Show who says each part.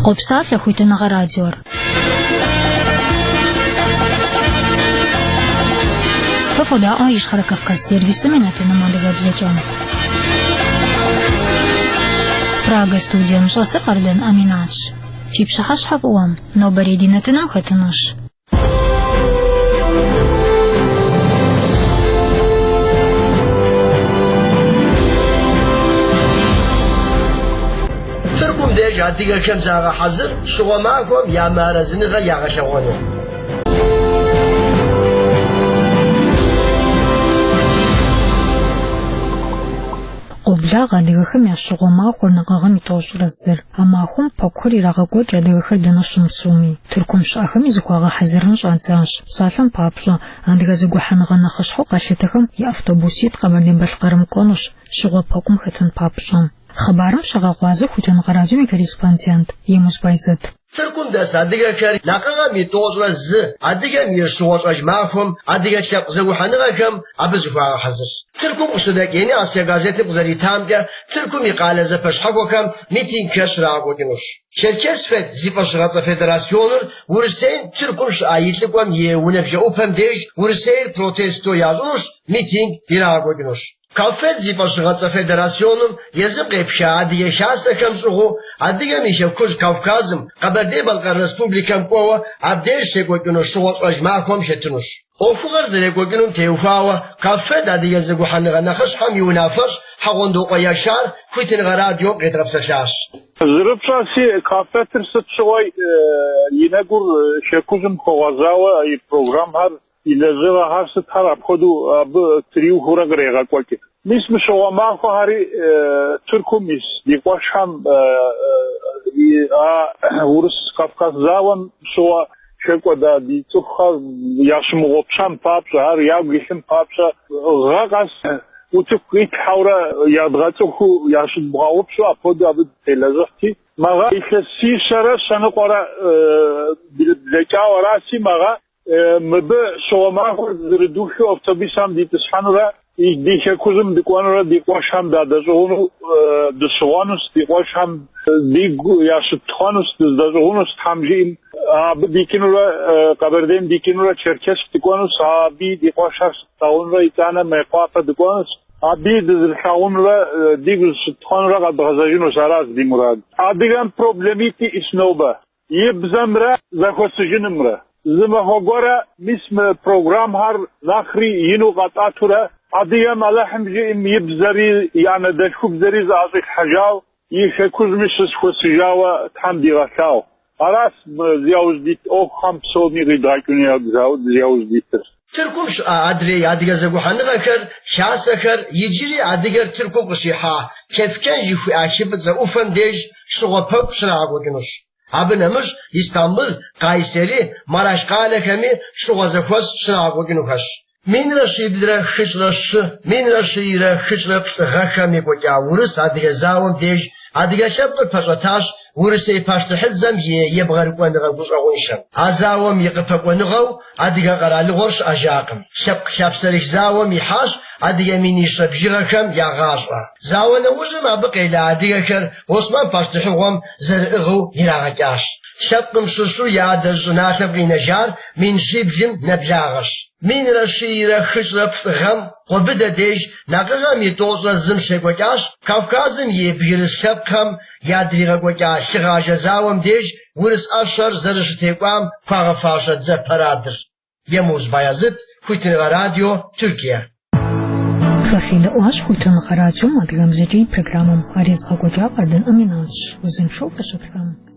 Speaker 1: Къопсалъэ Хуитыныгъэ радиор. Фэ фодаӏуэ Ищхъэрэ Кавказ сервисым и нэтыным адыгэбзэкӏэ. Прага студием щӏэсыр Къардан Аминатщ. Фи пщыхьэщхьэ фӏыуэ, нобэрей ди нэтыным хэтынущ.
Speaker 2: Тыркум деж адыгэхэм загъэхьэзыр щыгъуэ махуэм я мыарэзыныгъэ
Speaker 1: ягъэлъэгъуэну. Къоблагъэ адыгэхэм я щыгъуэ махуэр накъыгъэм и тӏощӏрэ зыр. А махуэм пэкӏухэр ирагъэкӏуэкӏ адыгэхэр дэнэ щымыпсэуми. Тыркум щыӏэхэми зыхуагъэхьэзырын щӏадзащ. Псалъэм папщӏэ, адыгэ зэгухьэныгъэ нэхъыщхьэу къалъытэхэм и автобуситӏ Къэбэрдей-Балъкъэрым кӏуэнущ, щыгъуэ пэкӏум хэтын папщӏэ. Хъыбарым щагъэгъуазэ Хуитыныгъэ радиом и корреспондент Емус Байзэт. Тыркум
Speaker 2: дэс адыгэхэр накъыгъэм и тӏощӏрэ зы адыгэм и щыгъуэщӏэж махуэм адыгэ лъэпкъ зэгухьэныгъэхэм абы зыхуагъэхьэзырщ. Тыркум къыщыдэкӏ Ени Асия газетым къызэритамкӏэ, Тыркум и къалэ зэпэщхьэхуэхэм митингхэр щрагъэкӏуэкӏынущ. Черкесфед зи фӏэщыгъэцӏэ федерасионыр Урысейм Тыркум щыӏэ и лӏыкӏуэм и унэ бжэӏупэм деж Урысейр протесто ящӏынущ, митинг ирагъэкӏуэкӏынущ. Каффед зи фӏэщыгъэцӏэ федерасионым езым къепха Адыгэ Хасэхэм щӏыгъуу Адыгэм и Хэкужь Кавказым, Къэбэрдей-Балъкъэр Республикэм кӏуэуэ абдеж щекӏуэкӏыну щыгъуэ щӏэж махуэм хэтынущ. ӏуэхугъэр зэрекӏуэкӏынум теухуауэ Каффед Адыгэ зэгухьэныгъэ нэхъыщхьэм и унафэщӏ Хьэгъуэндокъуэ Яшар Хуитыныгъэ радиом къедгъэпсэлъащ. Зэрыпщӏэси,
Speaker 3: Каффедыр сыт щыгъуи и нэгур шэкужьым хуэгъэзауэ и программхэр, и лэжьыгъэхэр сытхэр апхуэдэу абы триухуэурэ кърегъэкӏуэкӏ. Мис мы щыгъуэ махуэхэри Тыркум ис ди къуэшхэм и а Урыс-Кавказ зауэм щыгъуэ Хэкӏуэда ди цӏыхухэр ящымыгъупщэн папщӏэ, ар ягу илъын папщӏэ, гъэ къэс утыку къитлъхьэурэ ядгъэцӏыхуу ящыдмыгъэгъупщэу апхуэдэу абы дытелэжьыхьти, мыгъэ илъэсищэрэ щэныкъуэрэ блэкӏауэ араси, мыгъэ мыбы щыгъуэ махуэр зэрыдухыу автобисам дитӏысхьэнурэ Ди хэкужьым дыкӏуэнурэ ди къуэшхэм дадэщӏыгъуну дыщыгъуэнущ, ди къуэшхэм дигу ящытхуэнущ, дыздэщӏыгъунущ Тхьэм жиӏэм. Абы дикӏынурэ, Къэбэрдейм дикӏынурэ Черкесск дыкӏуэнущ, абыи ди къуэшхэр щытлъагъунурэ итӏанэ Мейкъуапэ дыкӏуэнущ. Абыи дызэрылъагъунурэ дигу зыщытхуэнурэ къэдгъэзэжынущ, аращ ди мурад. Адыгэм проблемитӏ иӏэщ нобэ. И бзэмрэ зэхуэсыжынымрэ. Зы махуэ гуэрэ мис мы программхэр нэхъри ину къэтӏэтурэ, Адыгэм Алыхьым жиӏэм и бзэри и анэдэлъхубзэри зыӏэщӏилъхьэжауэ, и хэкужьми щызэхуэсыжауэ Тхьэм дигъэлъагъу. Аращ мы зи яужь дит ӏуэхухэм псоми къидгъэкӏыну зи яужь дитыр. Тыркум
Speaker 2: щыӏэ адрей адыгэ зэгухьэныгъэхэр, хасэхэр, иджыри адыгэр Тыркум къыщихьа Кефкен жыхуиӏэ хы фӏыцӏэ ӏуфэм деж щыгъуэ пэкӏу щрагъэкӏуэкӏынущ. Абы нэмыщӏ Истамбыл, Кайсери, Мараш къалэхэми щыгъуэ зэхуэс щрагъэкӏуэкӏынухэщ. Минрэ щиблрэ хыщӏрэ щы, минрэ щыйрэ хыщӏрэ плӏы гъэхэм екӏуэкӏа Урыс адыгэ зауэм деж адыгэ лъэпкъыр пэщӏэтащ Урысей пащтыхьыдзэм и ебгъэрыкӏуэныгъэ гущӏэгъуншэм. А зауэм и къыпэкӏуэныгъэу Адыгэ къэралыгъуэр щыӏэжакъым. Лъэпкъ лъапсэрых зауэм ихьащ адыгэ минищэ бжыгъэхэм я гъащӏэ. Зауэ нэужьым абы къела адыгэхэр Осман пащтыхьыгъуэм зэрыӏыгъыу ирагъэкӏащ. Лъэпкъым щыщу и адэжь щӏыналъэм къинэжар мин щиблым нэблагъэщ. Минрэ щийрэ хыщӏрэ плӏы гъэм Къуэбыдэ деж, Накъыгъэм и тӏощӏрэ зым щекӏуэкӏащ Кавказым и бгырыс лъэпкъхэм ядригъэкӏуэкӏа лъыгъажэ зауэм деж урыс ӏэщэр зэрыщытекӏуам хуагъэфащэ дзэ парадыр. Емуз Баязыт, Хуитыныгъэ радио,
Speaker 1: Тыркие. Фэ федэӏуащ Хуитыныгъэ радиом адыгэбзэкӏэ и программэм. Ар езыгъэкӏуэкӏар Къардэн Аминатщ. Узыншэу фыщытхэм!